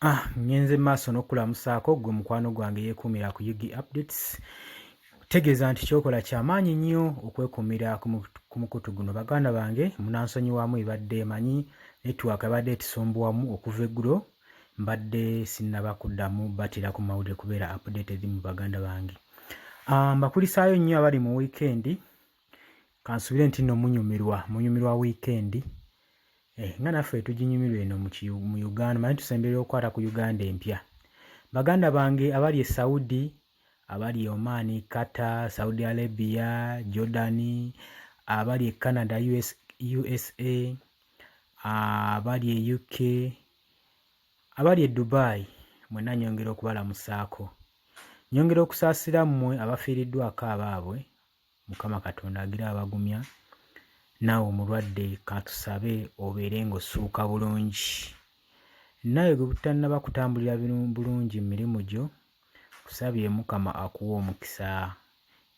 Ah, ngenze maaso n'okukulamusaako gwe mukwano gwange yeekuumira ku ug updates tegeeza nti kyokola kyamaanyi nnyo okwekuumira ku mukutu guno baganda bange munansonyiwamu ebadde emanyi network abadde etusumbuwamu okuva eggulo mbadde sinnaba kuddamu batira ku mawulire kubeera updated mu baganda bange ah, mbakulisaayo nnyo abali mu wiikendi kansubire nti no munyumirwa munyumirwa wiikendi eh, nga naffe tuginyumirwa eno mu uganda manyi tusembereyo okukwata ku uganda empya baganda bange abali e saudi abali e omaani qatar saudi arabia jordani abali e canada US, usa abali e uk abali e dubai mwena nyongera okubalamusaako nyongera okusaasira mmwe abafiiriddwako abaabwe mukama katonda agira abagumya naawe omulwadde katusabe obeere ng'ossuuka bulungi naawe gwe butannaba kutambulira bulungi mu mirimu gyo kusabye mukama akuwa omukisa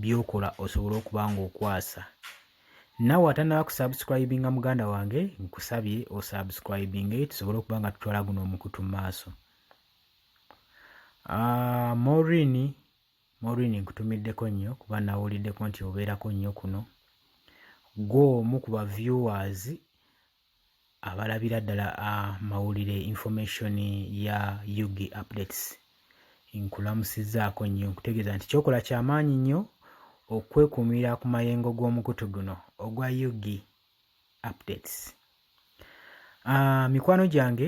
by'okola osobole okuba ng'okwasa naawe atannaba kusubscribinga muganda wange nkusabye osubscribinge tusobole okuba nga tutwala guno omukutu mu maaso ah, morini Maureen nkutumiddeko nnyo kuba nawuliddeko nti obeerako nnyo kuno gwe omu ku ba viewers abalabira ddala amawulire information ya ug updates nkulamusizaako nnyo nkutegeeza nti kyokola kyamaanyi nnyo okwekuumira ku mayengo g'omukutu guno ogwa ug updates uh, mikwano gyange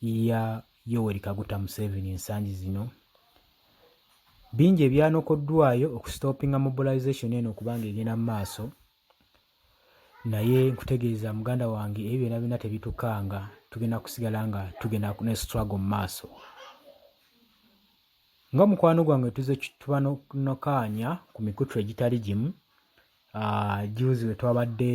ya Yoweri Kaguta Museveni ensangi zino bingi ebyanokoddwayo okusitopinga mobilization eno okuba nga egenda mu maaso naye nkutegeeza muganda wange ebyo byona byona tebitukanga tugenda kusigala nga tugenda ne struggle mu maaso nga mukwano gwange tuze tubanokaanya ku mikutu egitali gimu ah, juzi wetwabadde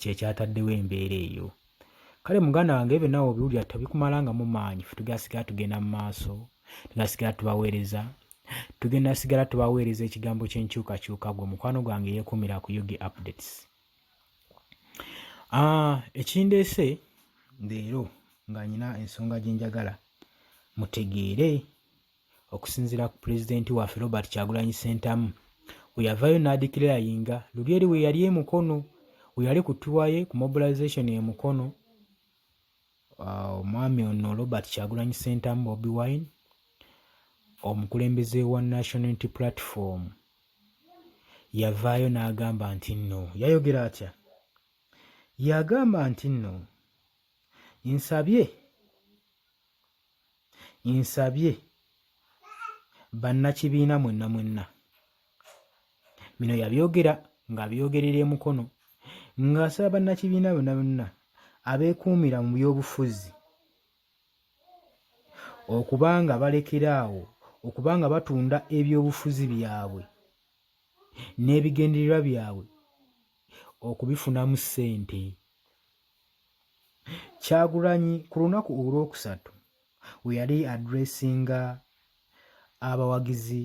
kyekyataddewo embeera eyo kale muganda wange ebyo nawe obiwulira tebikumalangamu maanyi fe tugenda sigala tugenda mu maaso tugenda sigala tubaweereza tugenda sigala tubaweereza ekigambo kyenkyukakyuka gwe mukwano gwange yekumira ku ug updates ah, ekindeese leero nga nyina ensonga gyenjagala mutegeere Okusinzira ku pulezidenti waffe Robert Kyagulanyi Ssentamu we yavaayo n'adikirira yinga luli eri we yali e Mukono we yali ku tuwa ye ku mobilization e Mukono ah, omwami ono Robert Kyagulanyi Ssentamu Bobi Wine omukulembeze wa National Unity Platform yavaayo n'agamba nti nno yayogera atya yagamba nti nno nsabye nsabye bannakibiina mwenna mwenna bino yabyogera ng'abyogerera emukono ng'asaba bannakibiina bonna bonna abeekuumira mu byobufuzi okuba nga balekera awo okuba nga batunda ebyobufuzi byabwe n'ebigendererwa byabwe okubifunamu ssente Kyagulanyi ku lunaku olwokusatu we yali adressinga abawagizi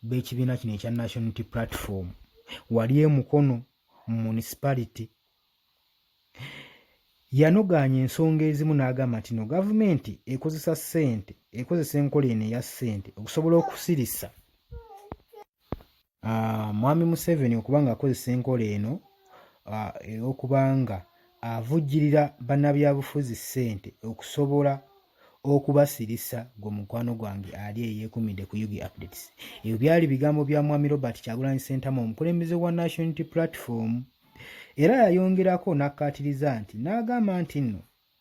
b'ekibiina kino ekya National Unity Platform wali e Mukono mu municipality yanogaanya ensonga ezimu n'agamba nti no gavumenti ekozesa ssente ekozesa enkola eno eya ssente okusobola okusirisa Ah, mwami Museveni okuba ng'akozesa enkola eno ah, ey'okuba nga avujjirira bannabyabufuzi ssente okusobola okubasirisa gwe mukwano gwange ali eyekumidde ku ug updates ebyo byali bigambo bya mwami robert kyagulanyi sentamu omukulembeze wa national unity platform era yayongerako n'akkaatiriza nti n'agamba nti nno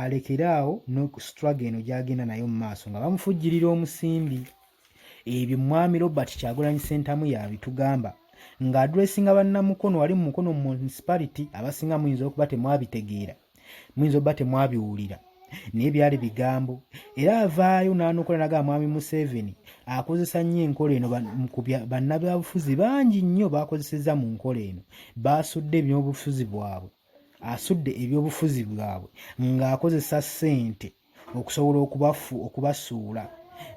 alekere awo no struggle eno gyagenda nayo mu maaso nga bamufujjirira omusimbi ebyo mwami robert kyagulanyi sentamu yabitugamba nga adressinga bannamukono wali mu mukono mu municipality abasinga muyinza okuba temwabitegeera muyinza okuba temwabiwulira naye byali bigambo era avaayo n'anokola naga mwami museveni akozesa nnyo enkola eno bannabyabufuzi bangi nnyo bakozesezza mu nkola eno baasudde ebyobufuzi bwabwe asudde ebyobufuzi bwabwe ng'akozesa ssente okusobola okubafu okubasuula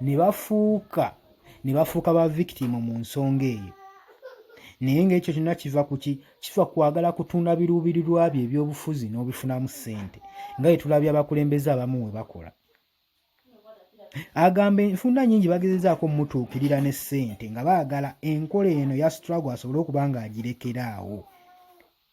ne bafuuka ne bafuuka ba victimu mu nsonga eyo naye ng'ekyo kyonna kiva kuki kiva kwagala kutunda biruubirirwa bye ebyobufuzi n'obifunamu ssente nga ye tulabye abakulembeze abamu we bakola agamba enfunda nyingi bagezezaako omutuukirira ne ssente nga baagala enkola eno ya strago asobole okuba ng'agirekera awo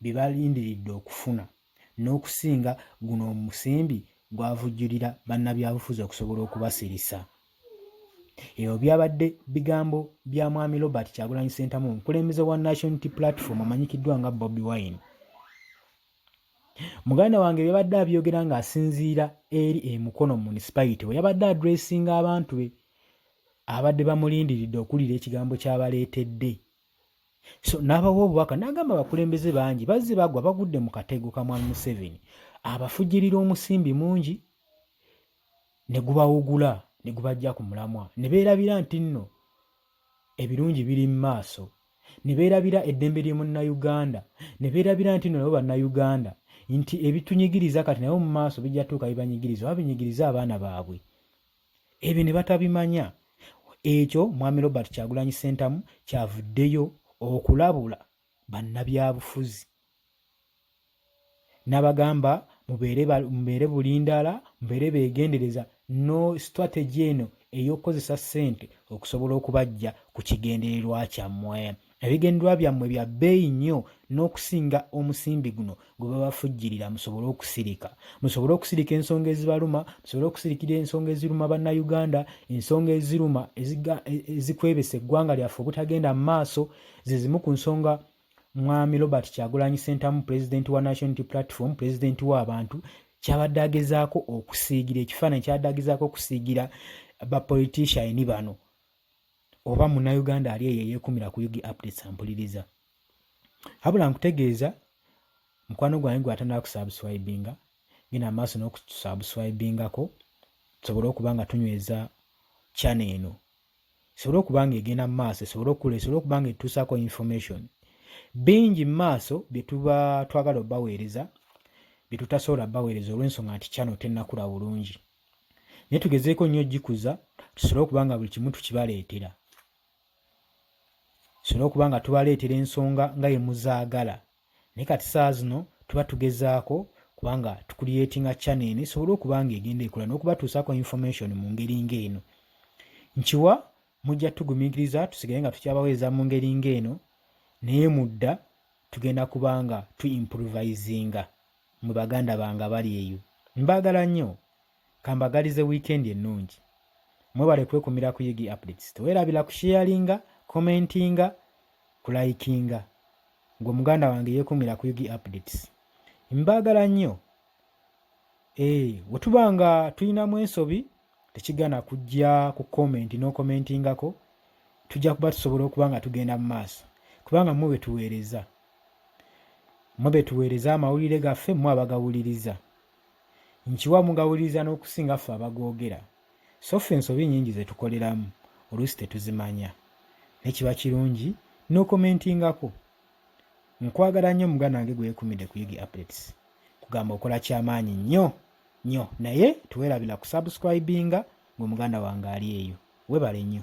bye balindiridde okufuna n'okusinga guno omusimbi gwavujjulira bannabyabufuzi okusobola okubasirisa. Ebyo byabadde bigambo bya Mwami Robert Kyagulanyi Ssentamu omukulembeze wa National Unity Platform amanyikiddwa nga Bobi Wine. Muganda wange byabadde abyogera ng'asinziira eri e Mukono municipality we yabadde adressinga abantu be abadde bamulindiridde okuwulira ekigambo ky'abaleetedde so n'abawa obubaka n'agamba abakulembeze bangi bazze bagwa bagudde mu katego ka mwami museveni abafujirira omusimbi mungi ne gubawugula ne gubajja ku mulamwa ne beerabira nti nno ebirungi biri mu maaso ne beerabira eddembe ly'omunnayuganda ne beerabira nti nno nabo bannayuganda nti ebitunyigiriza kati naye mu maaso bijja tuuka bibanyigiriza oba binyigiriza abaana baabwe ebyo ne batabimanya ekyo mwami robert kyagulanyi sentamu kyavuddeyo okulabula bannabyabufuzi nabagamba mubeere bulindaala mubeere beegendereza no strategy eno ey'okukozesa ssente okusobola okubajja ku kigendererwa kyammwe ebigendwa byammwe bya bbeeyi nnyo n'okusinga omusimbi guno gwe babafujjirira musobole okusirika musobole okusirika ensonga ezibaluma musobole okusirikira ensonga eziruma bannayuganda ensonga eziruma ezikwebesa eggwanga lyaffe obutagenda mu maaso ze zimu ku nsonga mwami robert kyagulanyi sentamu pulezidenti wa national platform pulezidenti w'abantu kyabadde agezaako okusiigira ekifaananyi kyabadde agezaako okusiigira bapoliticiani bano oba munnayuganda ali eyo eyeekumira ku ug updates ampuliriza habula nkutegeeza mukwano gwange gwatanala kusubscribinga genda amaaso n'okusubscribingako tusobole okuba nga tunyweza channel eno esobole okuba nga egenda mu maaso esobole okukula esobole okuba nga etuusaako information bingi mu maaso bye tuba twagala obaweereza bye tutasobola baweereza olw'ensonga nti channel tennakula bulungi naye tugezeeko nnyo ogikuza tusobole okuba nga buli kimu tukibaleetera tusobole okuba nga tubaleetera ensonga nga ye muzaagala naye kati saa zino tuba tugezaako kubanga tukuliyetinga chana eno esobole okuba nga egenda ekola n'okubatuusaako information mu ngeri ng'eno nkiwa mujja tugumiikiriza tusigale nga tukyabaweereza mu ngeri ng'eno naye mudda tugenda kuba nga tu improvisinga mwe baganda bange abali eyo mbagala nnyo kambagalize wiikendi ennungi mwebale kwekumira ku ug updates tewerabira kusheyalinga commentinga kulayikinga gwe muganda wange yekumira ku ug updates mbagala nnyo ee eh, wetuba nga tulinamu ensobi tekigana kujja ku comment nokomentingako tujja kuba tusobola okuba nga tugenda mu maaso kubanga mwe betuweereza Mmwe be tuweereza amawulire gaffe, mmwe abagawuliriza. Nkiwa mugawuliriza n'okusinga ffe abagoogera. So ffe ensobi nnyingi ze tukoleramu, oluusi tetuzimanya. Ne kiba kirungi n'okomentingako. Nkwagala nnyo muganda wange gwe yeekumidde ku Yigi Updates. Kugamba okola ky'amaanyi nnyo nnyo naye teweerabira kusubscribinga ng'omuganda wange ali eyo. Weebale nnyo.